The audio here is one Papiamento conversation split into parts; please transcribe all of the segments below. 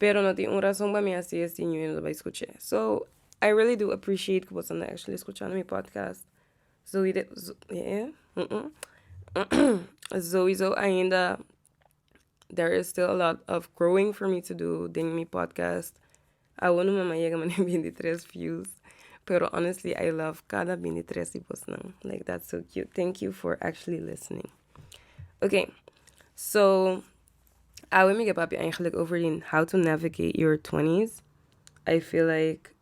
Pero no tin un rason pa mi a si esei ñu y no ta bai skuch'é. So I really do appreciate ku boso ta actually skuchando mi podcast Zoey de Zoey so ainda there is still a lot of growing for me to do den mi podcast. Awo no mi a yega manera binti tres views pero honestly I love kada binti tres di bosnan like that's so cute thank you for actually listening. Okay so. Awe mi ke papia eigenlijk over di how to navigate your twenties I feel like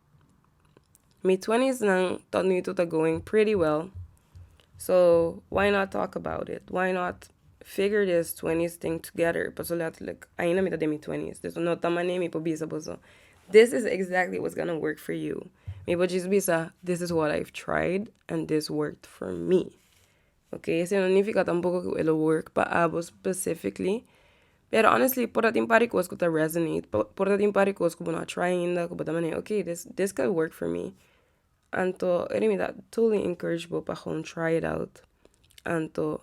mi twenties nan tot nu itu ta going pretty well so why not talk about it why not figure this twenties thing together paso letterlijk ainda mi ta den mi twenties dus no ta mane mi por bisa boso this is exactly what's gonna work for you mi por djis bisa this is what I've tried and this worked for me Ok esei no nifika tampoco cu e lo work pa abo specifically, pero honestly por ta tin par di cos cu ta resonate, por ta tin par di cos cu bo no a try ainda cu bo ta manda ok this this could work for me, anto ere mi ta totally encourage bo pa gewoon try it out, anto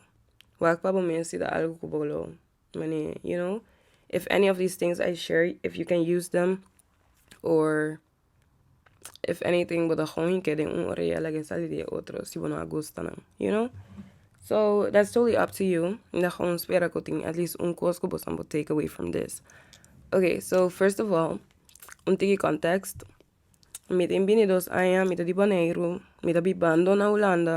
wak pa bo mes si ta algo cu bo lo mane you know if any of this things I share if you can use them or. if anything bo ta gou hike den un orea laga e sali den e otro si bo no a gusta nan you know so that's totally up to you mi ta gou spera ku tin at least un kos ku boso bo take away from this okay so first of all un tiki context mi tin bini dos aña mi ta di boneiru mi ta biba ando na hulanda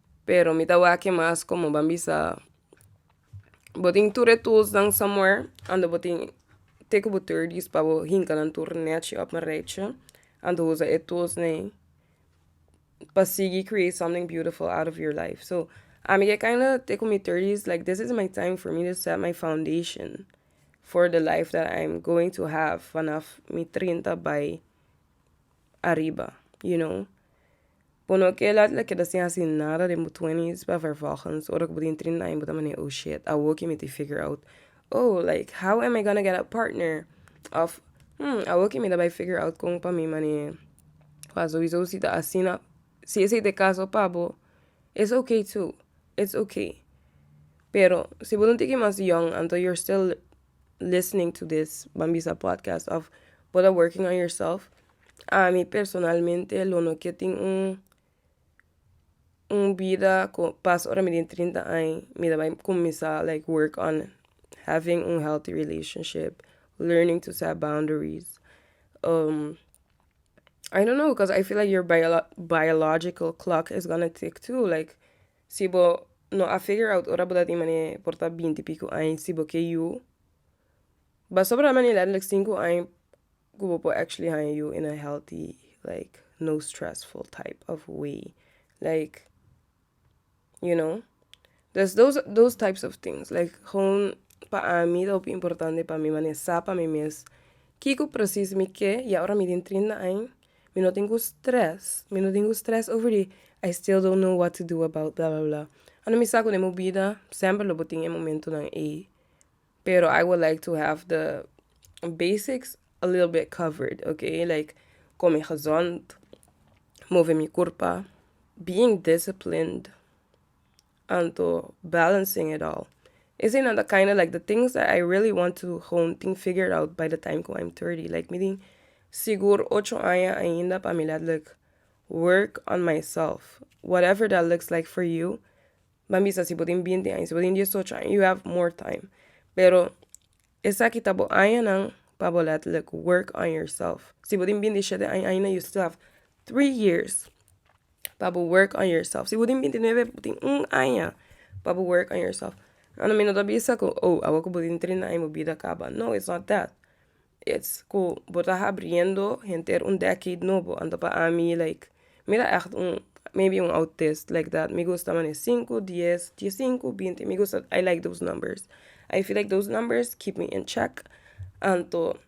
Pero mi ta wak-e mas komo ban bisa bo tin tur e toesnan samuer anto bo tin te ku bo tur dis pa bo hinka nan tur nèchi òf marechi anto usa e toesnan ei pa sigui create something beautiful out of your life so ami ke kaina te ku mi tur dis like this is my time for me to set my foundation for the life that I am going to have vanaf mi trinta bai. ariba you know por no ke la la keda sin hasi nada den bo twenties pa vervolgens ora ku bo tin trinta aña bo ta mane oh shiet awor ke mi tin figure out oh like how am I gonna get a partner of hmm awor ke mi ta bai figure out kon pa mi mane pa souiso si ta asina si esei ta e caso pa bo it's okay too it's okay pero si bo no tiki mas young anto you're still listening to this ban bisa podcast of bo ta working on yourself ami personalmente lo no ke tin un un bida ku pas ora mi den trinta ai mi ta bai kuminsá like work on having un healthy relationship learning to set boundaries I don't know cos I feel like your biological clock is gonna tick too like Si bo no a figure out ora bo ta tin mane por ta binti pico aña si bo ke yu pasobra ta mane letterlijk cinco aña cu bo por actually haña yu in a healthy like no stressful type of way like you know dus those those types of things like gewoon pa ami ta hopi importante pa mi mane sa pa mi mes kico precies mi ke ya ora mi tin trinta aña. Mi no tin ku stress, mi no tin ku stress over di I still don't know what to do about bla bla bla ando mi sa ku den bo bida semper lo bo tin e momentunan ei pero I would like to have the basics a little bit covered okay like kome gezond move mi kurpa being disciplined. Anto, Balancing it all. Eseinan ta kinda like the things that I really want to gewoon tin figured out by the time cu I'm thirty. Like mi tin sigur ocho aña ainda pa mi letterlijk work on myself. Whatever that looks like for you. Ban bisa si bo tin binti aña, si bo tin diesocho aña you have more time. Pero esaki ta bo añanan pa bo letterlijk work on yourself. Si bo tin binti shete aña ainda you still have three years. pa bo work on yourself. Si bo tin bintinuebe, bo tin un aña pa bo work on yourself. Anto mi no ta bisa ku oh awor ku bo tin trinta aña bo bida a kaba. No, it's not that. It's ku bo ta habriendo henter un decade nobo. Anto pa ami like, mi ta ègt un, maybe un autist like that. Mi gusta mane sinku, dies, die sinku, binti. Mi gusta, I like those numbers. I feel like those numbers keep me in check. Anto.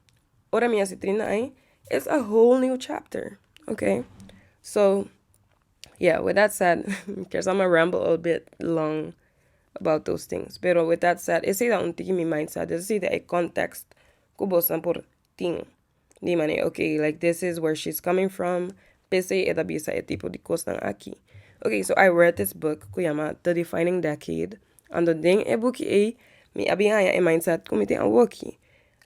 Ora mi a si trinta aña it's a whole new chapter ok so yeah with that said kier sa ma ramble a bit long about those things pero with that said esei ta un tin mi mind sa dus esei ta e context ku bosnan por tin di manera ok like this is where she's coming from p'esei e ta bisa e tipo di cosnan aki ok so I read this book ku yama The Defining Decade. Ando den e buki ei mi a bin haña e mindset ku mi tin awoki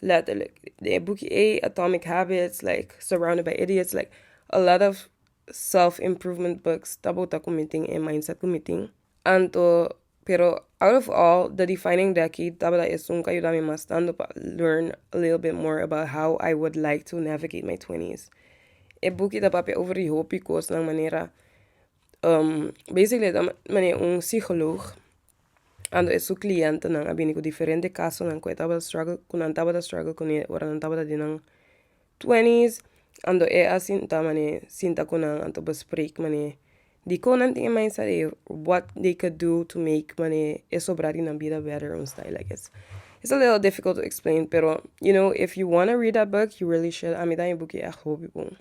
letterlijk den e buki ei Atomic Habits like Surrounded by Idiots like a lot of self improvement books ta bota ku mi tin e mindset ku mi tin anto pero out of all the defining decade tabata esun ku a yuda mi mas tantu pa learn a little bit more about how I would like to navigate my twenties e buki ta papia over di hopi kosnan manera basically e ta manera un psicoloog ando e su clientenan a bini ku diferente kasonan ku e tabata struggle ku nan tabata struggle kune ora nan tabata den nan twenties ando e a sinta mane sinta ku nan anto bespreek mane dikon nan tin e mind sa de what they could do to make mane e sobra di nan bida better un style like this it's a little difficult to explain pero you know if you wanna read that book you really should ami ta mi buki e a hopi bon.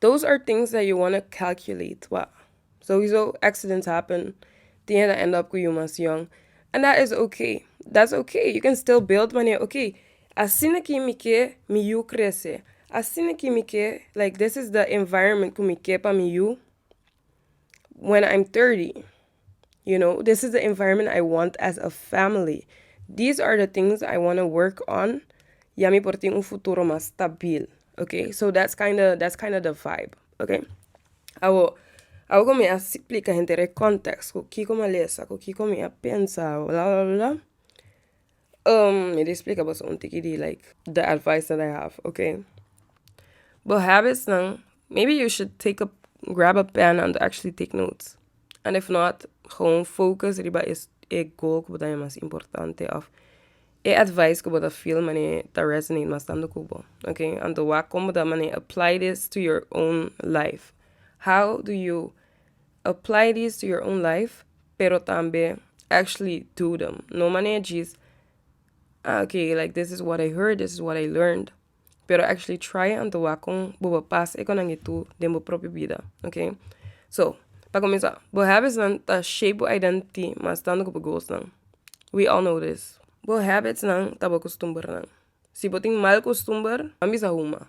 Those are things that you wanna calculate wak sowieso accidents happen tin e ta end up ku yu mas yòn and that is ok that's ok you can still build wanneer ok asina ki mi ke mi yu krese asina ki mi ke like this is the environment ku mi ke pa mi yu. wen i'm thirty you know this is the environment i want as a family this are the things i wanna work on ya mi por tin un futuro mas stabil okay so that's kinda that's kinda the vibe okay awo awo ku mi a splika henter e kòntèks ku kiko mi a lesa ku kiko mi a pensa bla bla bla. mi di splika boso un tiki di like the advice that I have, okay? Bo habitsnan, maybe you should take a grab a pen and actually take notes and if not gewoon focus riba e e goal ku bo ta bin mas importante of e advice ku bo ta feel mane ta resonate mas tantu ku bo, okay? Anto wak kon bo ta mane apply this to your own life, how do you Apply these to your own life, pero tambe actually do them. No manera djis, ah ok, like this is what I heard, this is what I learned. Pero actually try a antoa con bo bo pas econangi tu den bo propio bida, ok. So, pa cuminsa, bo habitsnan ta shape bo identity mas tanto cu bo goalsnan. We all know this. Bo habitsnan ta bo costumbernan. Si bo tin mal costumber, a bisa huma.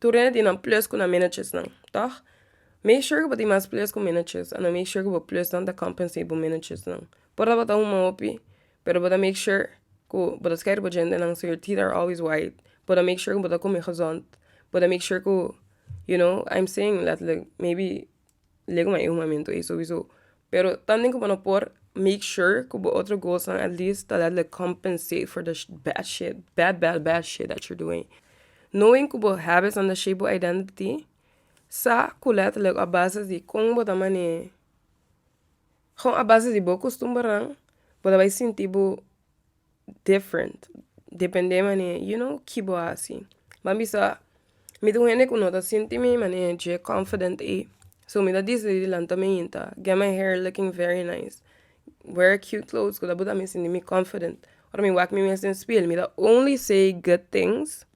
Tur hende tin nan plus ku nan managersnan, tòg? Make sure ku bo tin mas plus ku managers a nan make sure ku bo plusnan ta compensate bo managersnan. Por ta bo ta huma hopi, pero bo ta make sure ku bo ta skei di bo djentenan so your teeth are always white. Bo ta make sure ku bo ta komi gezond. Bo ta make sure ku, you know, I'm saying letterlijk, maybe. Lek ma e un momento ei sowieso. Pero tambe ku bo no por make sure ku bo otro goalsnan at least ta laat'e compensate for the bad shit, bad bad bad shit that you're doing. Knowing ku bo habitsnan ta shape bo identity, sa ku letterlijk a base di kon bo ta manee, ho a base di bo costumbernan, bo ta bai sinti bo. different depende mane you know ki bo a hasi ban bisa mi ta un hende ku no ta sinti mi mane dje confident ei so mi ta decidi lanta mi yinta get my hair looking very nice wear cute clothes ku ta puru mi sinti mi confident ora mi wak mi mes den spiel mi ta only say good things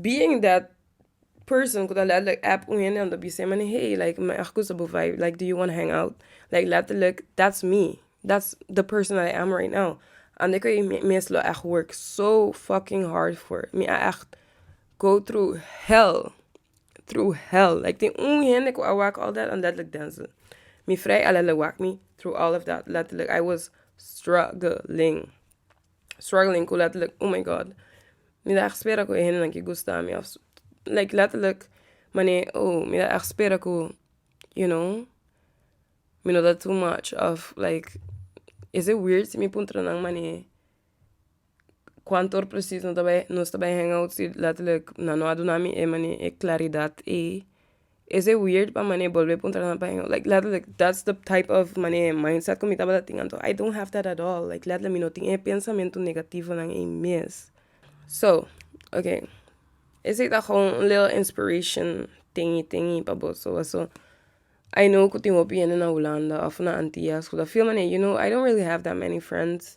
being that person ku ta letterlijk app un hende anto bisé man hey like mi a hakusa bo vibe like do you wanna hang out like letterlijk that's me that's the person that I am right now and dan kun mi mes lo echt work so fucking hard for mi a echt go through hell through hell like tin un hende ku a wak all that and letterlijk Denzel mi freya a letterlijk wak mi through all of that letterlijk I was struggling. struggling cu letterlijk oh my god mi ta echt spera cu e hendenan ke gusta mi of like letterlijk mane oh mi ta echt spera cu you know mi no ta too much of like is it weird si mi puntra nan mane cuantoor precies no ta bai nos ta bai hang out si letterlijk nan no a duna mi e mane e claridad ey. Ese weird pa mane bolbe puntra nan paheño like letterlijk that's the type of mane mindset ku mi tabata tin anto I don't have that at all like letterlijk mi no tin e pensamentu negativonan ei mes so okay esei ta gewoon un little inspiration tei tei pa boso paso I know ku tin hopi hende na Hulanda of na Antillas ku ta feel mane you know I don't really have that many friends.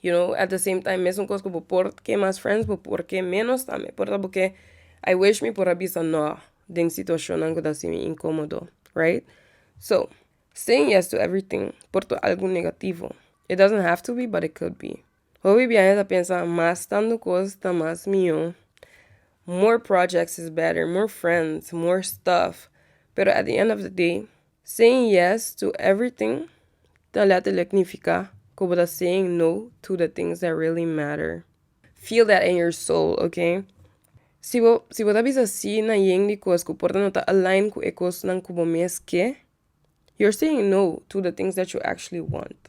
You know, at the same time mesun kos ku bo por ke mas friends, bo por ke ménos tambe. Por ta bo ke I wish mi por a bisa nò den situashonnan ku ta sin mi inkomodo, right? So, saying yes to everything por ta algu negativo. It doesn't have to be but it could be. Hopi biaha ta pensa mas tandu kos ta mas mihó, more projects is better, more friends, more stuff, pero at the end of the day Saying yes to everything ta letterlijk nifiká ku bo ta saying no to the things that really matter. Feel that in your soul, ok? Si bo si bo ta bisa sí na yen di kos ku por ta no ta align ku e kosnan ku bo mes ke, you're saying no to the things that you actually want.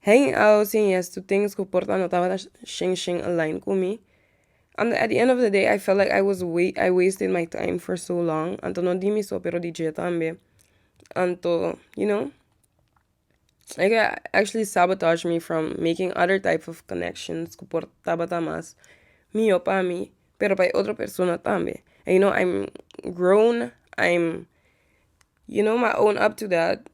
Hang out sin yes to things ku por ta no tabata shen shen align ku mi. Anto at the end of the day I felt like I was wast I wasted my time for so long anto no di mi so pero di dje tambe anto you know e ke a actually sabotage me from making other type of connections ku por tabata mas mihó pa mi pero pa e otro persona tambe and you know I'm grown I'm you know my own up to that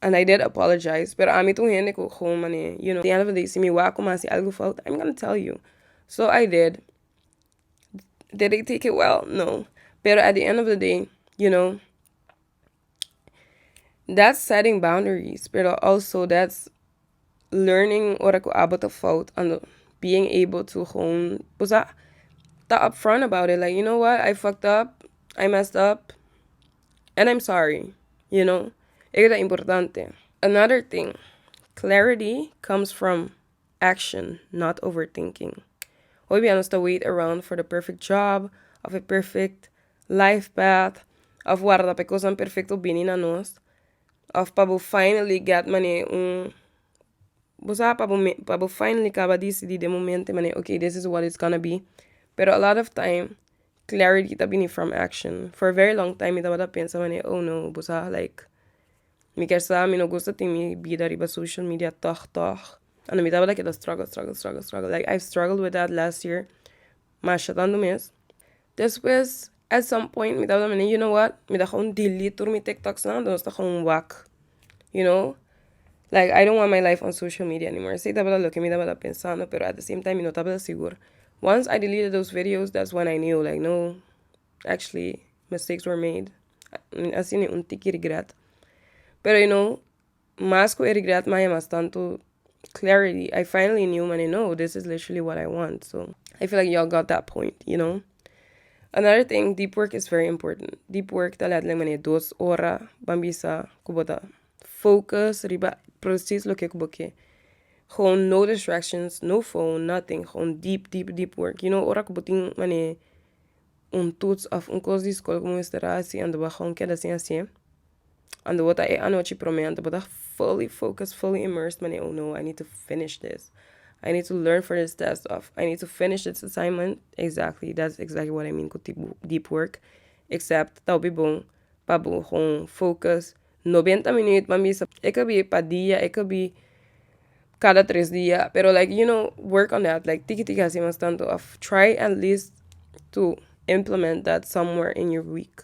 and I did apologize pero ami ta un hende ku gon mane you know siempre di si mi wak ku mi hasi algu fout I'm gonna tell you so I did did they take it well no pero at the end of the day you know that's setting boundaries pero also that's. learning ora cu abo ta fout and being able to gewoon bo sa ta up front about it like you know what I fucked up I messed up and I'm sorry you know e ta importante another thing clarity comes from action not over thinking hoy dia nos ta wait around for the perfect job of a perfect life path of warda pa e cosnan perfecto bini na nos Of pa bo finally get manera un bo sa pa bo mi pa bo finally kaba disidí den momento manera ok this is what is gonna be pero a lot of time clarity ta bini from action for very long time mi tabata pensa manera oh no bo sa like mi ker sa mi no gusta tin mi bida riba social media tòg tòg and mi tabata keda struggle struggle struggle struggle like I struggle with that last year masha tantu mes Despues at some point mi tabata mende you know what mi ta gou delete tur mi tiktoksnan nos ta gou wak you know like I don't want my life on social media anymore esei tabata loke mi tabata pensando pero at the same time mi no tabata sigur once I deleted those videos that's when I knew like no actually mistakes were made a sini un tiki regret pero you know Mas ku e regret maya mas tantu clarity I finally knew mane no this is literally what I want so I feel like y'all got that point you know another thing deep work is very important deep work ta let like mane dos ora ban bisa ku bo ta focus riba precies loke ku bo ke gewoon no distractions no phone nothing gewoon deep deep deep work you know ora ku bo tin mane un toets of un kos di skol ku bo mester a hasi anto bo a gewoon keda sin hasi'e. Ando bo ta e anochi prome ante bo ta fully focus, fully immerse mane oh no I need to finish this, I need to learn for this test of I need to finish this assignment exactly that's exactly what I mean cu tipo deep work except ta hopi bon pa bo con focus noventa minüt pan bisa e ka bi pa dia e ka bi cada tres dia pero like you know work on that like tiki tiki asi mas tanto of try at least to implement that somewhere in your week.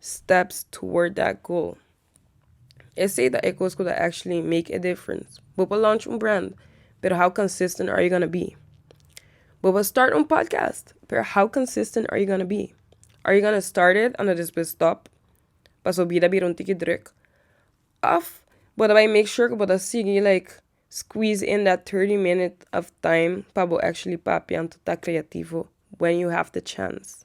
steps toward that goal. Esey ta e cos cu ta actually make a difference. Bo por launch un brand, pero how consistent are you gonna be? Bo por start un podcast, pero how consistent are you gonna be? Are you gonna start it and despues stop pa su bida bira un tiki druk? Of bo ta make sure cu bo ta sigui like squeeze in that thirty minutes of time pa bo actually papia and ta creativo when you have the chance?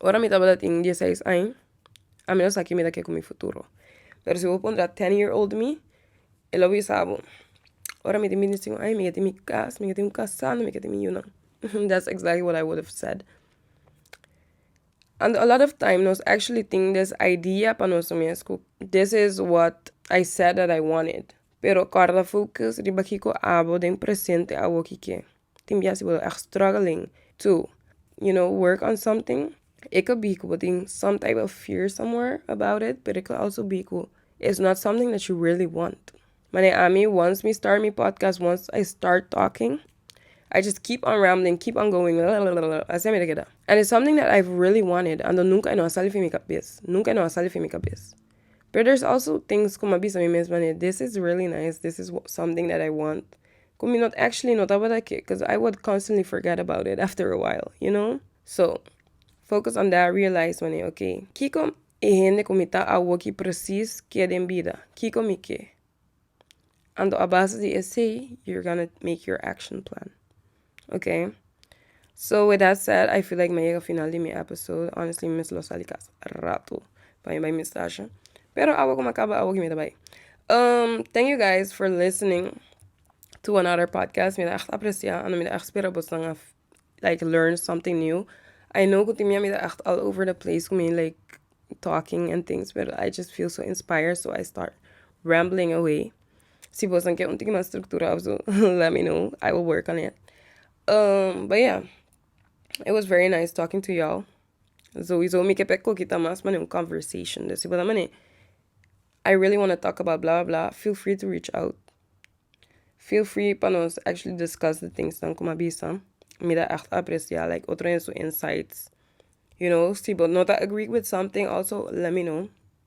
ora mi tabata tin dies seis aña a mi no sa ke mi ta ke ku mi futuro pero si bo puntra ten year old mi e lo bisa bo ora mi tin binti sinku aña mi ke tin mi kas mi ke tin kasando mi ke tin mi yunan that's exactly what I would have said and a lot of time nos actually tin des idea pa noso mes ku this is what I said that I wanted pero kòrda focus riba kiko abo den presente awo ki ke. tin biaha si bo ta struggling to you know work on something e ka bi ku bo tin some type of fear somewhere about it pero e ka also bi ku is not something that you really want mane ami once mi start mi podcast once I start talking I just keep on rambling keep on going lalala asi ami ta keda and is something that I really wanted ando nunka e no a sali fen mi kabes nunka e no a sali fen mi kabes pero there's also things ku mi a bisa mi mes mane this is really nice this is something that I want. Cu mi not actually no tabata ke cuz I would constantly forget about it after a while, you know? So, focus on that realize wani, ok, kiko e hende cu mi ta awoki precies ke den bida? Kiko mi ke? Anto a base di esey you're gonna make your action plan, ok? So with that said I feel like mi a yega final di mi episode honestly mi mes lo sa di casa rato pa mi bai mi stasha pero awo ku mi a kaba awo ke mi ta bai thank you guys for listening to another podcast mi ta ègt aprecia and mi ta ègt spera boso nan a like learn something new I know ku tin mia mi ta ègt all over the place ku mi like talking and things pero I just feel so inspired so I start rambling away. Si boso a ke un tiki mas structura of su let me know I will work on it but yeah it was very nice talking to y'all sowieso mi ke pek koki ta mas pasobra un conversation si bo ta mane I really wanna talk about bla bla bla feel free to reach out feel free pa nos actually discuss de things nan ku mi a bisa mi ta echt aprecia like otro hende su insights you know si bo no ta agree with something also let me know.